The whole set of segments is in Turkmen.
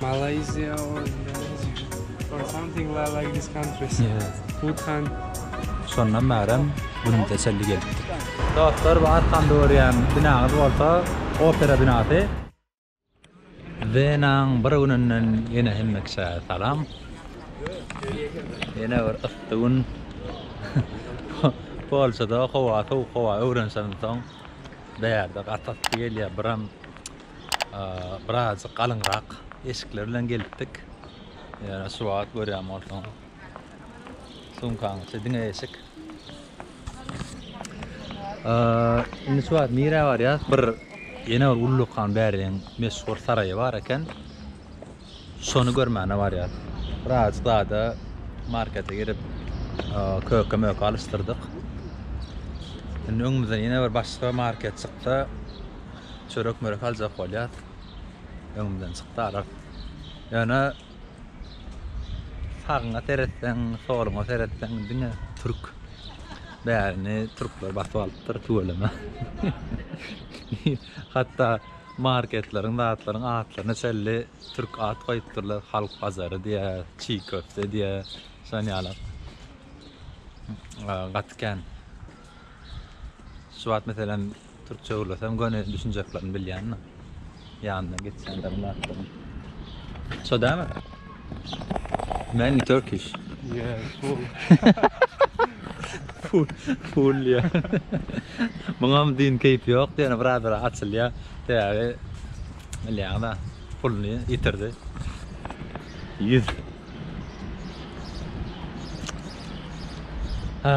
Malayzia or Indonezia or something la like this countries. Buthan. Şondan bärem günüm teselli gelipdir. Dostlar bu arkamda görýän binaňyz bolsa opera binasy. Wenaň bir gününden ýene hemme kişä salam. Ýene bir yssy gün. Polşada howa sowuk howa öwrensemsoň bu ýerde gaty yssy gelýär. Biram Birazjyk galyňrak eşikler bilen gelipdik. Ýöne şu wagt görýän bolsaň, sumkaň içi diňe eşik. Indi şu wagt nirä barýas? Bir ýene bir ullakan bäriň meşhur saraýy bar eken. Şony görmäne barýas. Biraz zada markete girip köke möke alyşdyrdyk. Indi öňümizden ýene bir başga market çyksa çörek mörek aljak bolýas. Öňümden çykdy ara. Ýöne sagyňa seretseň soluňa seretseň diňe türk. Bärini türkler basyp alypdyr tüweleme. Hatda Marketleriň zatlaryň atlaryna çenli türk at goýupdyrlar, halk bazary diýýär, çig köfte diýýär, şon ýaly gaty kän. Şu wagt meselem türkçe gürlesem göni düşünjeklerini bilýän-de. Ýanyna geçýänleriň zatlaryň. Şo dälmi? Many Turkish. Yeah, full. full, full ya. Muňam din keýp ýok diýen bir adara açylýa. Täze bilýän da puluny ýitirdi. 100. Ha.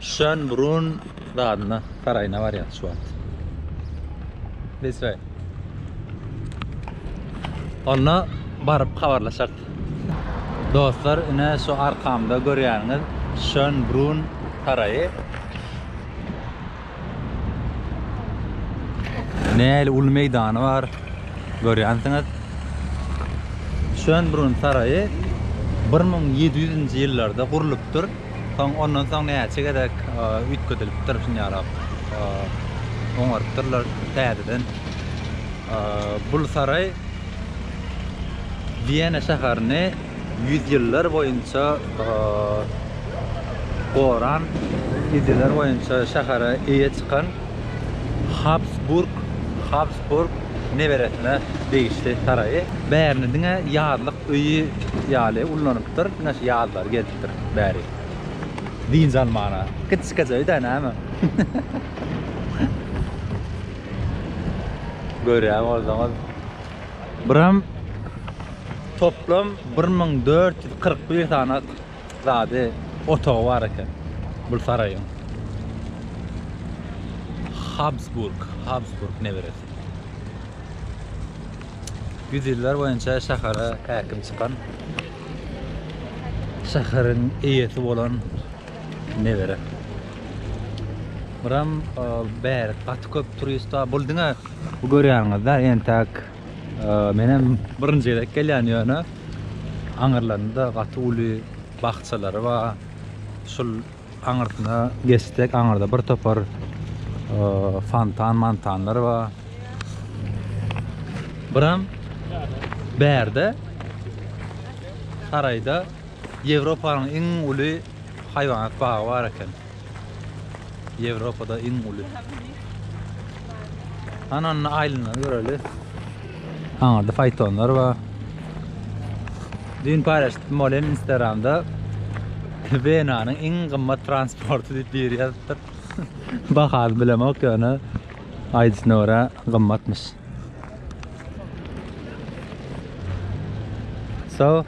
Şönbrun dadyna saraýyna barýarys şu wagt. This way. Onda baryp habarlaşak. Dostlar, ine şu arkamda görýäniňiz Şönbrun saraýy. Näli uly meýdany bar. Görýänsiňiz. Şönbrun saraýy 1700-nji ýyllarda gurlupdyr. Soň ondan soň näçe gezek üýtgedilipdir şuny ýalap. Oňarypdyrlar täzeden. Bu saraý Wiýena şäherini Ýüzýyllar boýunça goran, ýüzýyllar boýunça şähere eýe çykan Habsburg, Habsburg neberesine degişli saraýy. Bärini diňe ýazlyk öýi ýaly ullanypdyr, diňe şu ýazlary gezipdir bäri. Dynç almana. Kiçijekje öýdä näme. Görýän bolsaňyz, Buram toplam 1441 sany zady otagy bar eken bu saraýyň. Habsburg, Habsburg neberesi. Ýüz ýyllar boýunça şähere häkim çykan şäheriň eýesi bolan Nebere. Buram bärik gaty köp turist bar. Bul diňe bu görýäňizde entäk men hem birinji gezek gelýän ýöne aňyrlarynda gaty uly bakçalary bar. Şul aňyrsyna geçsek aňyrda bir topar fontan mantanlar bar. Buram bärde saraýda Ýewropanyň iň uly haýwanat bagy bar eken. Ýewropada iň uly. Hany onda aýlanyp göreli. Aňyrda faýtonlar bar. Düýn paýlaşdypdym ol hem Instagramda. Wenanyň iň gymmat transporty diýip biri ýazypdyr. Bahasyny bilemok ýöne aýdyşyna görä gymmatmyş. So.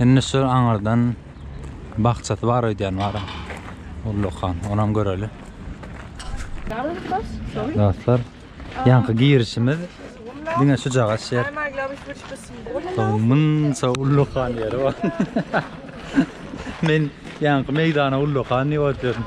Indi şu aňyrdan bakçasy bar öýdýän bar. Ullakan, onam göreli. Dostlar, ýaňky girişimiz diňe şu jagaş ýer. Munça ullakan ýer bar. Men ýaňky meýdana ullakan diýip oturyordum.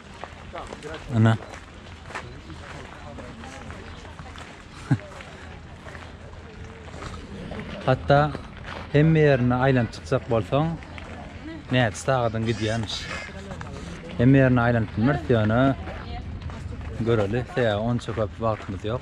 Ana. Hatta hemme ýerine aýlanyp çykjak bolsaň, näçe sagadyň gidýänmiş. Hemme ýerine aýlanyp bilmeris ýöne göreli, sebäbi onça köp wagtymyz ýok.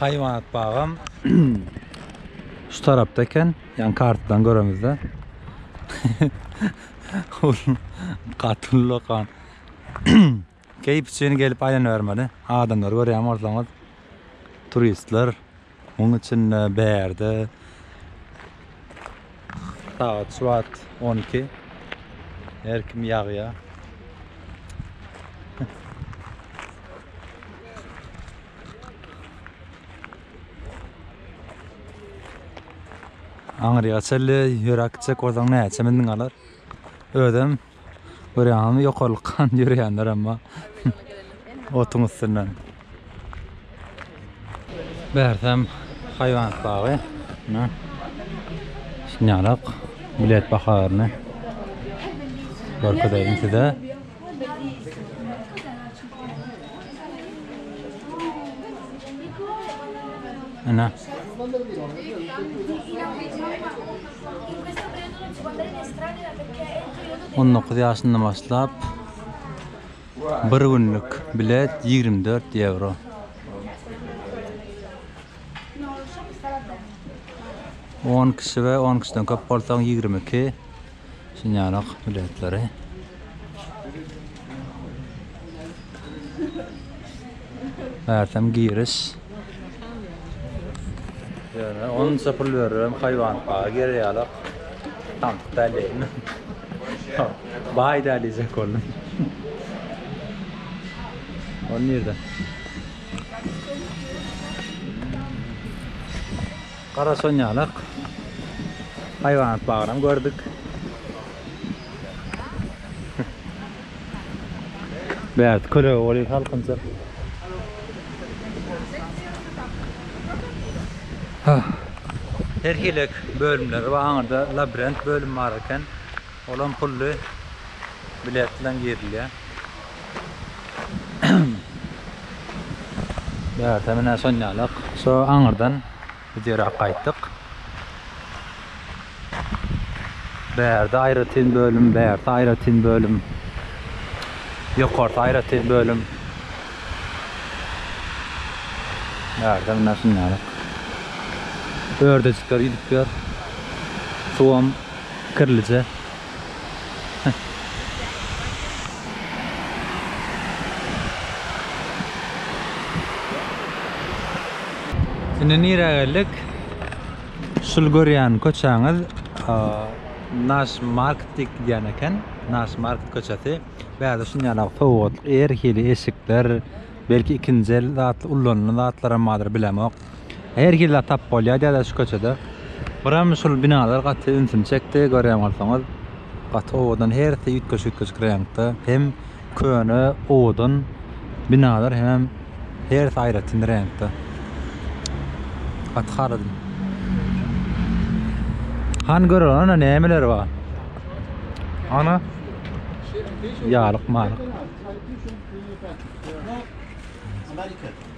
Haýwanat bagam şu tarapda eken. Ýani kartadan göremizde. Gaty uly dokan. Keýp üçin gelip aýlanybermeli. Adamlary görýän bolsaňyz, turistler Muň içinde bärde sagat şu wagt on iki. Her kim ýagýar. Aňryýa çenli ýöräp gitsek bolsaň näçe mündiň galar? Özem Görýäňizmi ýokarlykdan ýörýänler emma otuň üstünden. Bärsem haýwanat bagy. Mine. Şinýarak bilet baharyny görkezeýin size. Ana. On dokuz ýaşyndan başlap bir günlük bilet ýigrimi dört ýewro. On kişi we on kişiden köp bolsaň ýigrimi iki şinýalyk biletleri. Bärtem giriş. Ýöne onça pul beribem haýwanyň bagy gereýalok. Tankyt dälleýin. Baý dälýjek boldy. Ony nirde? Gara sonýalak. Haýwanat bagyny gördük. Bärde kölege bolýar salkynça. Her hili bölümleri bar. Aňyrda labirint bölümi bar eken. Olam pully. Bilet bilen girilýär. Bärde menä şonýalak. Şo aňyrdan Biz ýere gaýtdyk. Bärde aýratyn bölüm, bärde aýratyn bölüm. Ýokarda aýratyn bölüm. Bärde mundan şundaýrak. Ördejikler gidip ýör. Suwam kirlije. Indi nirä geldik? Şul görýän köçäňiz Naş market diýip gidýän eken. Naş market köçesi. Bärde şuny ýaly sowgatlyk, her hili eşikler, belki ikinji el zatlar, ullanylan zatlaram bardyr, bilemok. Her hili zat tapyp bolýar diýýärler şu köçede. Biram şul binalar gaty ünsümi çekdi. Görýän bolsaňyz, gaty owadan, hersi üýtgeşik-üýtgeşik reňkde. Hem köne, owadan binalar, hemem hersi aýratyn reňkde. Gaty haladym. Hany göreli, ana nämeler bar. Ana, ýalyk-malyk. Amerika.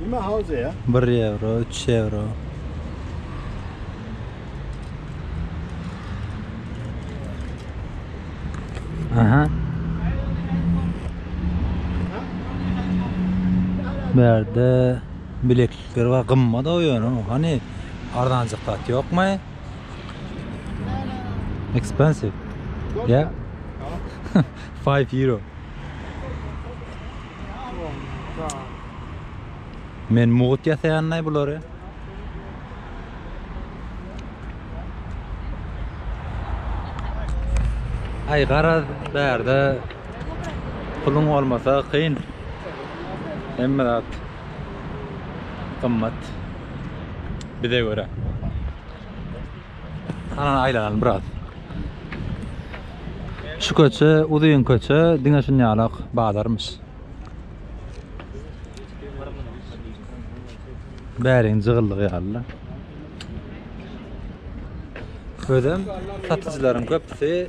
Nima howze ya? 1 ýewro, 3 ýewro. Aha. Bu ýerde bileklikler bar, gymmat o ýöne. Hany arzanjak zat ýokmy? Expensive. Yeah. 5 euro. Men mugut ýasaýanlaý bulary. Aý garaz bärde puluň bolmasa kyn. Hemme zat gymmat bize görä. Ana aýlanan biraz. Şu köçe, uzun köçe, diňe şun ýalak bazarmyş. Bärin jygyldyk ýaly. Özüm satyjylaryň köpüsi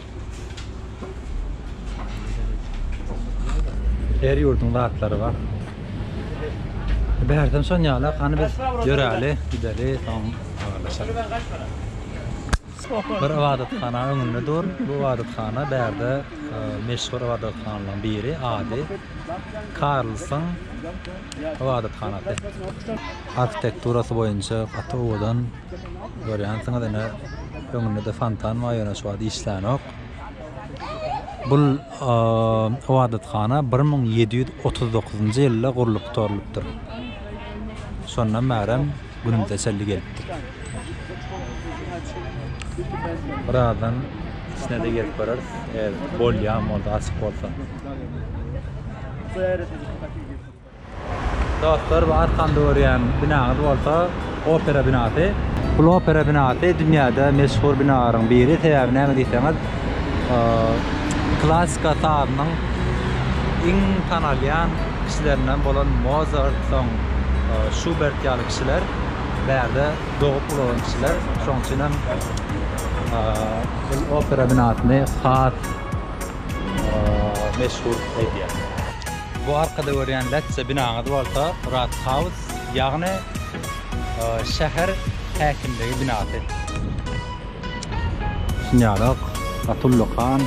Her ýurduň zatlary bar. Bärden şon ýala hany biz ýöräli, gideli, soň habarlaşaly. Bir ybadathana öňünde dur. Bu ybadathana bärde meşhur ybadathanalardan biri, ady Karlson ybadathanasy. Arhitekturasy boýunça gaty owadan Görýänsiňiz ine öňündede fontan bar ýöne şu wagt işlänok. Bul ybadathana 1739-njy ýylda gurlup gutarylypdyr. Şondan bärem günümüze çenli gelipdir. Birazdan içine-de girip göreriz. Eger bolýan bolsa, açyk bolsa. Dostlar bu arkamda görýän binaňyz bolsa opera binasy. Bul opera binasy dünýäde meşhur binalaryň biri sebäbi näme diýseňiz klasika sazynyň iň tanalýan kişilerinden bolan Mozart soň Şubert ýaly kişiler bärde dogup ulalan kişiler şoň üçin hem bul opera binasyny has meşhur edýär. Bu arkada görýän lätçe binaňyz bolsa Rat House, ýagny şäher häkimligi binasy. Düşünýärok, Atulla han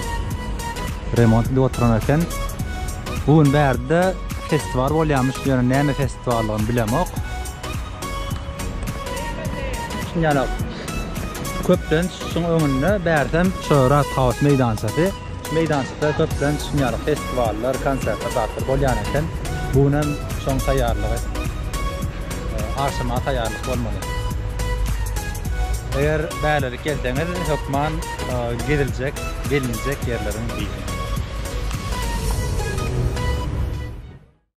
remont edip oturan eken. Bu gün bärde festiwal bolýarmyş, ýöne näme festiwaldygyny bilemok. Düşünýärok. Köplenç şuň öňünde bärsem, şo Rat House meýdançasy. Meýdançada köplenç ýaly festiwallar, konsertler zatlar bolýan eken. Bu gün hem şoň taýýarlygy. Agşama taýýarlyk bolmaly. Eger bälelik gelseňiz hökman geziljek, gelinjek ýerleriň biri.